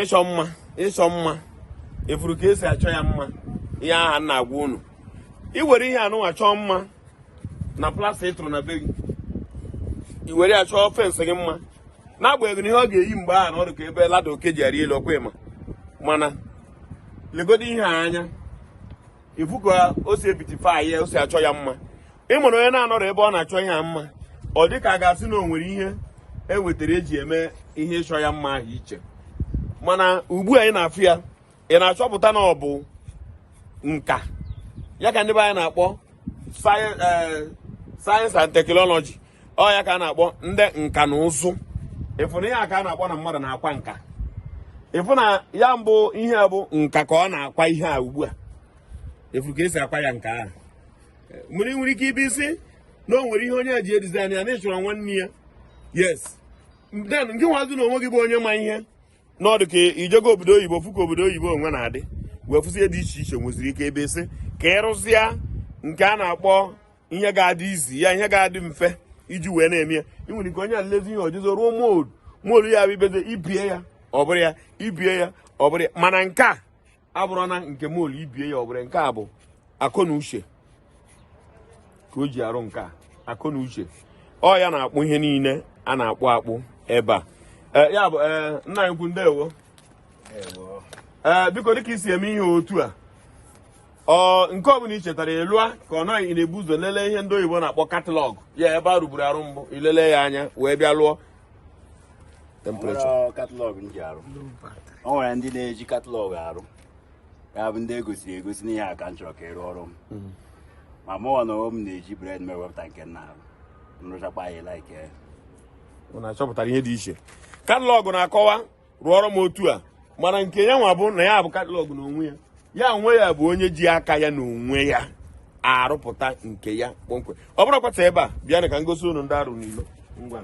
ịchọ mma ịchọ mma ị fụrụ ka e si achọ ya mma ihe aha m na-agwa unu i were ihe anụnwa chọọ mma na plaster ị tụrụ na be gị i were ya chọọ fence gị mma n'agbanyeghị na ihe ọ ga-eyi mgbe ahụ na ọ dị ka ebe ladder oke ji arị elu ọ kwa ị ma mana legodo ihe a anya ị fụ ka o si ebeautify ya o si achọ ya mma ị mara onye na-anọrọ ebe ọ na-achọ ya mma ọ dị ka a ga-asị na o nwere ihe e wetara e ji eme ihe ịchọ ya mma ahụ iche mana ugbu a ị na-afụ ya ị na-achọpụta na ọ bụ nka ya ka ndị be anyị na-akpọ science eh, and technology ọ ya ka a na-akpọ ndị nka na ụzụ ị fụ na ihe a ka a na-akpọ na mmadụ na-akwa nka ị fụ na ya bụ ihe bụ nka ka ọ na-akwa ihe a ugbu a ị fụ ka e si akwa ya nka ahụ i nwere ike ịbịa sị na o nwere ihe onye ji edesign ya na ị chọrọ nwanne ya yes then ngị nwazi na onwe gị bụ onye ma ihe na ọ dị ka i jego obodo oyibo fụ ka obodo oyibo onwe na-adị wee fụzie dị iche iche nweziri ike ịbịa sị ka ị rụzie nke a na-akpọ ihe ga-adị easier ihe ga-adị mfe iji wee na-eme ya i nwere ike onye a lezie ihe o jizi rụọ mould mould ya bụ i biezie i bie ya ọ bụrụ ya i bie ya ọ bụrụ ya mana nke a abụrọ na nke mould i bie ya ọ bụrụ nke a bụ akọ na uche ka o ji arụ nke a akọ na uche ọ ya na-akpụ ihe niile a na-akpụ akpụ ebe a eh, ya bụ eh, nna anyị ukwu ndewo ee eh, biko dịka i si eme ihe otu a ọ nke ọ bụla i chetara ị lụa ka ọ na ị na-ebu ụzọ lelee ihe ndị oyibo na-akpọ catalogue ya bụ ihe a rụburu arụbu i lelee ya anya wee bịa lụọ temprechọ ọ bụrọ catalogue m ji arụ o nwere ndị na-eji catalogue arụ ya bụ ndị e gosiri egosi na ihe a ka m chọrọ ka ị rụọrọ m ma mụnwa na onwe m na-eji brain m ewepụta nke m na-arụ m rụchakwa ya like ya unu achọpụtara ihe dị iche catalogue na-akọwa rụọrọ m otu a mana nke ya nwa bụ na ya bụ catalogue n'onwe ya ya onwe ya bụ onye ji aka ya na onwe ya arụpụta nke ya kpọmkwem ọ bụrụ kwata ebe a bịanụ ka m gosi unu ndị a rụ n'ilo ngwa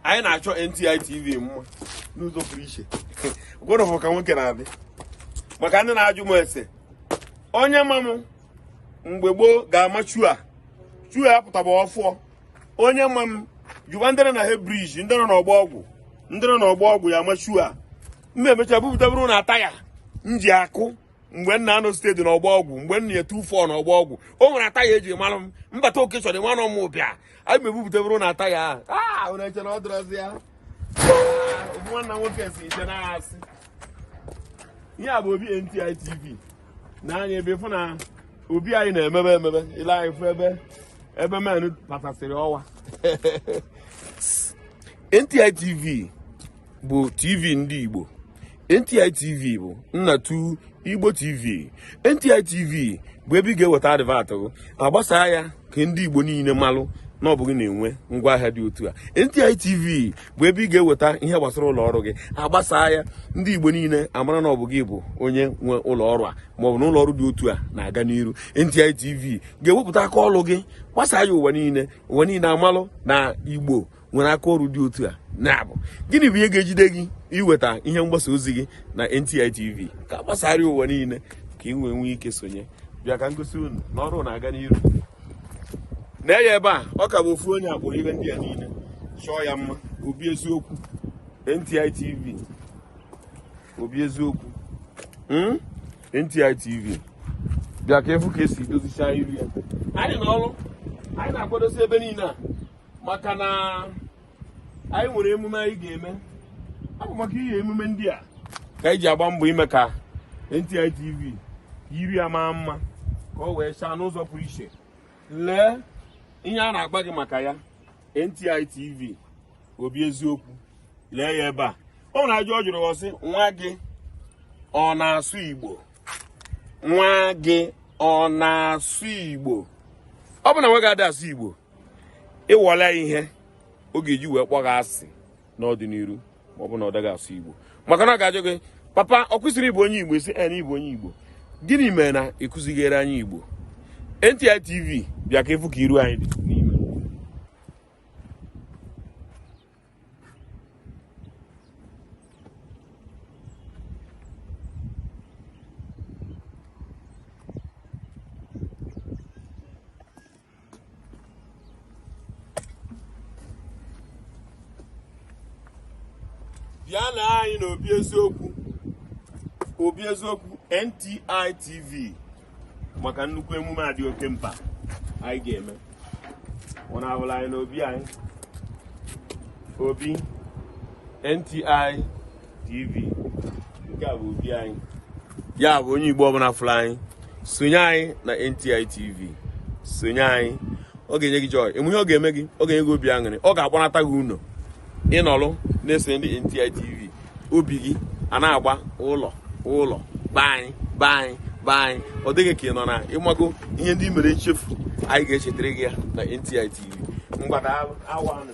anyị na-achọ NTI TV mma n'ụzọ pụrụ iche gwụrụfụ ka nwoke na-adị maka ndị na-ajụ m ese onye ma m mgbe gboo ga-ama chua chua ya pụtaba ọfụọ onye ma m jụwa ndị nọ Head Bridge ndị nọ n'ọgbọ ọgwụ ndị nọ n'ọgbọ ọgwụ ya machu a m mechaa bupụtabụrụ unu attire m ji akụ mgbe m na-anọ shed na ọgbọ ọgwụ mgbe nna ya tufọ na ọgbọ ọgwụ o nwere attire e ji mara m mbata oke chọrọ ịmanụ m bịa anyị m ebupụtabụrụ unu attire ahụ na-eche na ọ dịrọzi ya nwanna nwoke si ije na-asị ihe a bụ obi NTI TV n'anya ebe ị fụ na obi anyị na-emebe emebe ile anyị fụ ebe ebe men patasịrị ọwa NTI TV bụ TV ndị Igbo NTI TV bụ nnatu Igbo TV NTI TV bụ ebe ị ga-eweta advert gị agbasaa ya ka ndị Igbo niile malụ na ọ bụ gị na-enwe ngwa ahịa dị otu a NTI TV bụ ebe ị ga-eweta ihe gbasara ụlọ ọrụ gị agbasaa ya ndị Igbo niile amara na ọ bụ gị bụ onye nwe ụlọ ọrụ a maọbụ na ụlọ ọrụ dị otu a na-aga n'iru NTI TV ga-ewepụta aka ọrụ gị gbasaa ya ụwa niile ụwa niile amalụ na Igbo nwere aka ọrụ dị otu a ya bụ gịnị bụ ihe ga-ejide gị iweta ihe mgbasa ozi gị na NTI TV ka a gbasaara ụwa niile ka ị wee nwee ike sonye bịa ka m gosi unu na ọrụ na-aga n'iru nee ya ebe a ọ ka bụ ofu onye akpụrụ ihe ndị a niile chọọ ya mma obi eziokwu NTI TV obi eziokwu hmm? NTI TV bịa ka ị fụ ka e si dozicha iru ya anyị na ọrụ anyị na-akwadosi ebe niile a maka na anyị nwere emume anyị ga-eme ya bụ maka ihe emume ndị a ka anyị ji agba mbọ ime ka NTI TV yiri ya maa mma ka o wee chaa n'ụzọ pụrụ iche lee ihe a na-agwa gị maka ya NTI TV obi eziokwu lee ya ebe a o nwere ajụjụ ọ jụrụ ọ sị nwa gị ọ na-asụ Igbo nwa gị ọ na-asụ Igbo ọ bụ na nwa gị adị asụ Igbo ịwọla ihe ọ ga-eji wee kpọọ gị asị n'ọdịniru ma ọ bụ na ọ daghị asụ igbo maka na ọ ga-ajụ gị papa ọ kwa ị sịrị ị bụ onye igbo ị sị na ị bụ onye igbo gịnị mere na ị kụzighere anyị igbo NTI TV bịa ka ị fụ ka iru anyị dị bịa na anyị n'obi eziokwu obi eziokwu NTI TV maka nnukwu emume a dị oke mkpa anyị ga-eme unu afụla anyị n'obi anyị obi NTI TV nke a bụ obi anyị ya bụ onye Igbo ọbụla fụrụ anyị sonye anyị na NTI TV sonye anyị ọ ga-enye gị joy ị ma ihe ọ ga-eme gị ọ ga-enye gị obi aṅụrị ọ ga-agbanata gị ụnọ ị nọlụ na-eso ndị NTI TV obi gị ana-agba ụlọ ụlọ be anyị be anyị be anyị ọ dị gị ka ị nọ na ị mago ihe ndị i mere nchefu anyị ga-echetara gị ya na NTI TV mgbada awa anụ